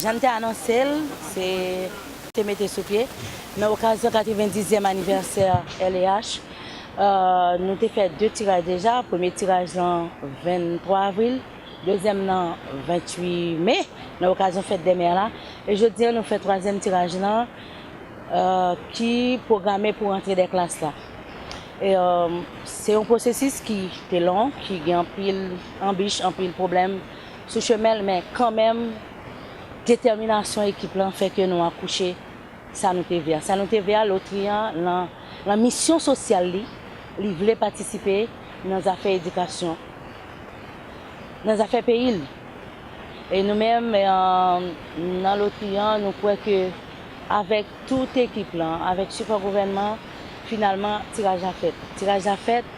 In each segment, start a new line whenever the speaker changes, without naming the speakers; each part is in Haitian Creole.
Jan m te anonse l, se te mete sou pye nan okazyon 90 zyèm anivèsè LEH. Nou te fè 2 tiraj deja, premye tiraj lan 23 avril, dezyèm lan 28 me nan okazyon fèt dè mè la. E jodi an nou fè twazyèm tiraj lan ki pwograme pou rantre dè klas la. Se yon pwosesis ki te long, ki gen anpil anbich, anpil pwoblèm. sou chemen l men kanmenm detèminasyon ekip lan fè ke nou akouche sa nou te vle a. Sa nou te vle a, lotri an lan lan misyon sosyal li, li vle patisipe nan zafè edikasyon, nan zafè peyi l. E nou menm nan lotri an nou kwè ke avèk tout ekip lan, avèk sipò gouvènman, finalman tiraj la fèt. Tiraj la fèt.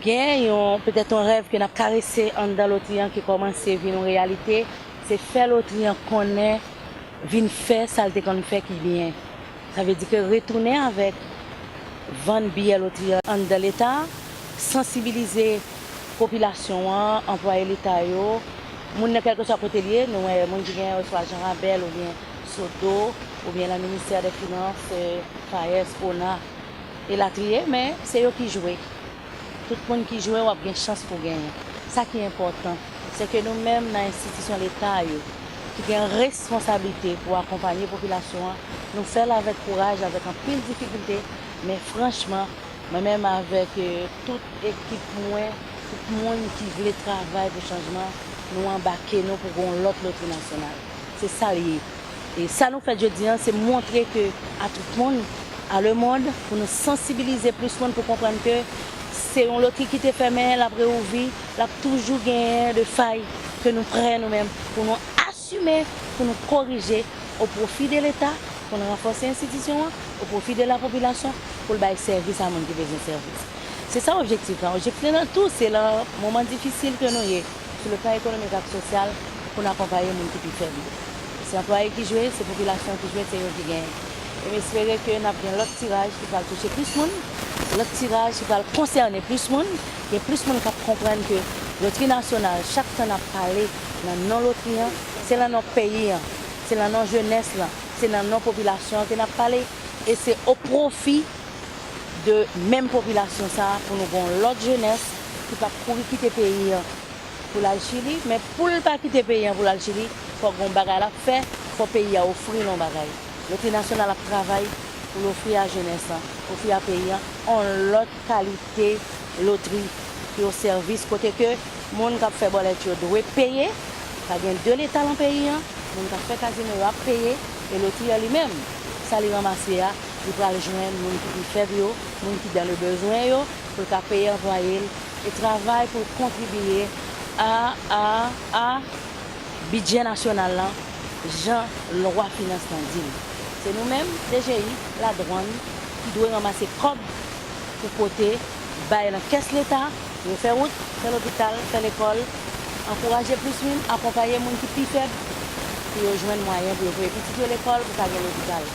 Gen yon, petèt yon rèv ke n ap karese anndan lotri an ki kòmanse vin yon reyalite, se fè lotri an konnen vin fè sa l te konn fè ki byen. Sa vle di ke retounen avèk vann biyè lotri an anndan Leta, sansibilize popilasyon an, anplwaye Leta yo, moun nan kèlkeswa kote l ye, nou wè moun ki gen oswa Jan Rabèl oubyen Sodo oubyen nan ministè dè finans, FAES, ona. elatriye men se yo ki jwe tout moun ki jwe wap gen chans pou genyen sa ki enpòtan se ke nou menm nan enstitisyon leta yo ki gen responsablite pou akonpanye popilasyon an nou fèl avèk kouraj avèk anpil difikilte men franchman mwen menm avèk tout ekip mwen tout moun ki vle travay pou chanjman nou anbake nou pou gon lòt lotri nasyonal se sal ye. E sa nou fè jodi an se montre ke a tout moun, a le mond, pou nou sansibilize plis moun pou konprann ke se yon lotri ki te fèmen, l ap reouvri, l ap toujou genyen de fay ke nou prè nou menm pou nou asime, pou nou korije o pwofi de leta, pou nou ranfòse enstitisyon an, o pwofi de la popilasyon pou l bay sèvis a moun ki bezwen sèvis. Se sa objektif lan. Objektif lan tou se lan moman difisil ke nou ye. sou le plan ekonomik ak sosyal pou n akonpaye moun ki pi fèb yo. Se anplwaye ki jwe, se popilasyon ki jwe, se yo ki genyen. E m espere ke n ap gen lòt tiraj ki pral touche plis moun, lòt tiraj ki pral konsène plis moun, gen plis moun k ap konprann ke lotri nasyonal, chak tan n ap pale nan non lotri an, se lan non peyi an, se lan non jenès lan, se nan non popilasyon an ke n ap pale e se o pwofi. de menm popilasyon sa pou nou gon lòt jenès ki pap kouri kite peyi an pou lal chili men poul pa kite peyi an pou lal chili fòk gon bagay lap fè fò peyi a ofril on bagay miltinasyonal ap travay poul ofri a jenès lan ofri a peyi an on lòt kalite lotri ki o sèvis kote ke moun kap fè bòlèt yo dwe peye pa gen de leta lan peyi an moun kap fè kazino yo ap peye e lotri an li menm sa li ranmase a. Li pral jwenn moun ki pi fèb yo, moun ki dan le bezwen yo, pou l ka peye anplwaye l e travay pou l kontribiye a a a bidjè nasyonal lan jan lwa finans lan di l. Se nou menm, DGI, Ladwann, ki dwe ranmase kòb pou pote bay lan kès leta. Yo fè wout, fè lopital, fè lekòl, ankouraje plis moun, akonpaye moun ki pi fèb pou yo jwenn mwayen pou yo voye pitit yo lekòl pou ka gen lopital.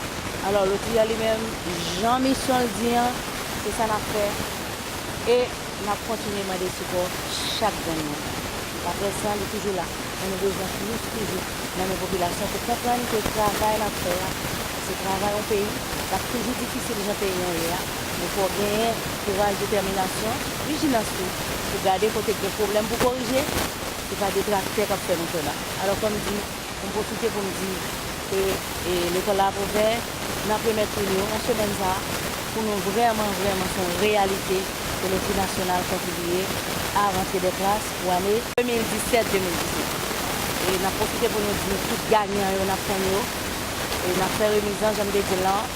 Alò, Lotriya li menm, jan misyon l di an, se sa n ap fè e n ap kontinye mande sipò chak grenn moun. Laprès lan, li toujou la, men nou bezwen plis toujou nan men popilasyon pou konprann ke travay l ap fè a, se travay yon peyi, l ap toujou difisil jan peyi an ye a, Men fò w genyen kouraj, detèminasyon, vijilans tou pou gade kote k gen pwoblèm pou korije, se pa detraktè k ap fè nou fè bak. Alò fò m di, fò m pwofite pou m di ke Lekòl la ap ouvè nan premyè toune yo nan semèn sa a pou nou vrèman vrèman son reyalite ke loterie nasyonal kontribiye a rantre dè klas pou ane 2017, 2018. E n ap pwofite pou nou di tout ganyan yo n ap tann yo e n ap fè remizan jan m te di l lan.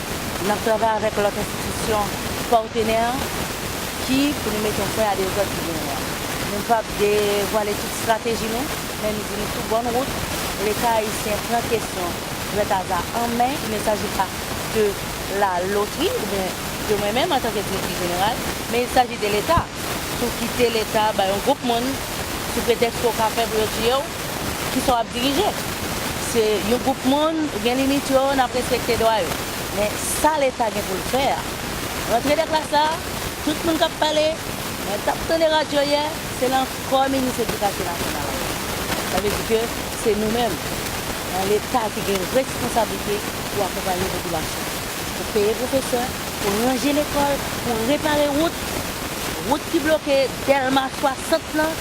N ap travay avèk lòt enstitisyon patenè ki pou nou mete yon fren a dezòd ki genyen an. Nou p ap devwale tout estrateji nou, men nou di nou sou bòn wout. Leta ayisyen pran kesyon Grètaza an men, il ne s'agit pas de la loterie oubyen de mwen menm antanke Direktris Jeneral, men il s'agit de l'Etat. Sou kite Leta bay yon gwoup moun. sou pretèks ke w ka fè pou yo tiye w, kisa w ap dirije? Se yon gwoup moun, ou gen limit yo, n ap respekte dwa yo. Men sa leta gen pou l fè a, rantre dè klas la, tout moun k ap pale, mwen t ap tande radyo yè, se lan kò minis edikasyon nasyonal la ye. Sa vle di ke se nou menm, lan leta ki gen responsablite pou akonpaye popilasyon an. pou peye pwofesè, pou ranje lekòl, pou repare wout, wout ki bloke Dèlma 60 lan,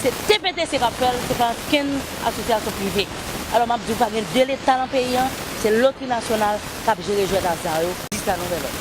se TPTC k ap fè l, se pa ankenn asosyasyon prive. Alò m ap di w pa gen 2 leta nan peyi an, se lotri nasyonal k ap jere jwèt aza yo jiska nouvèl òd.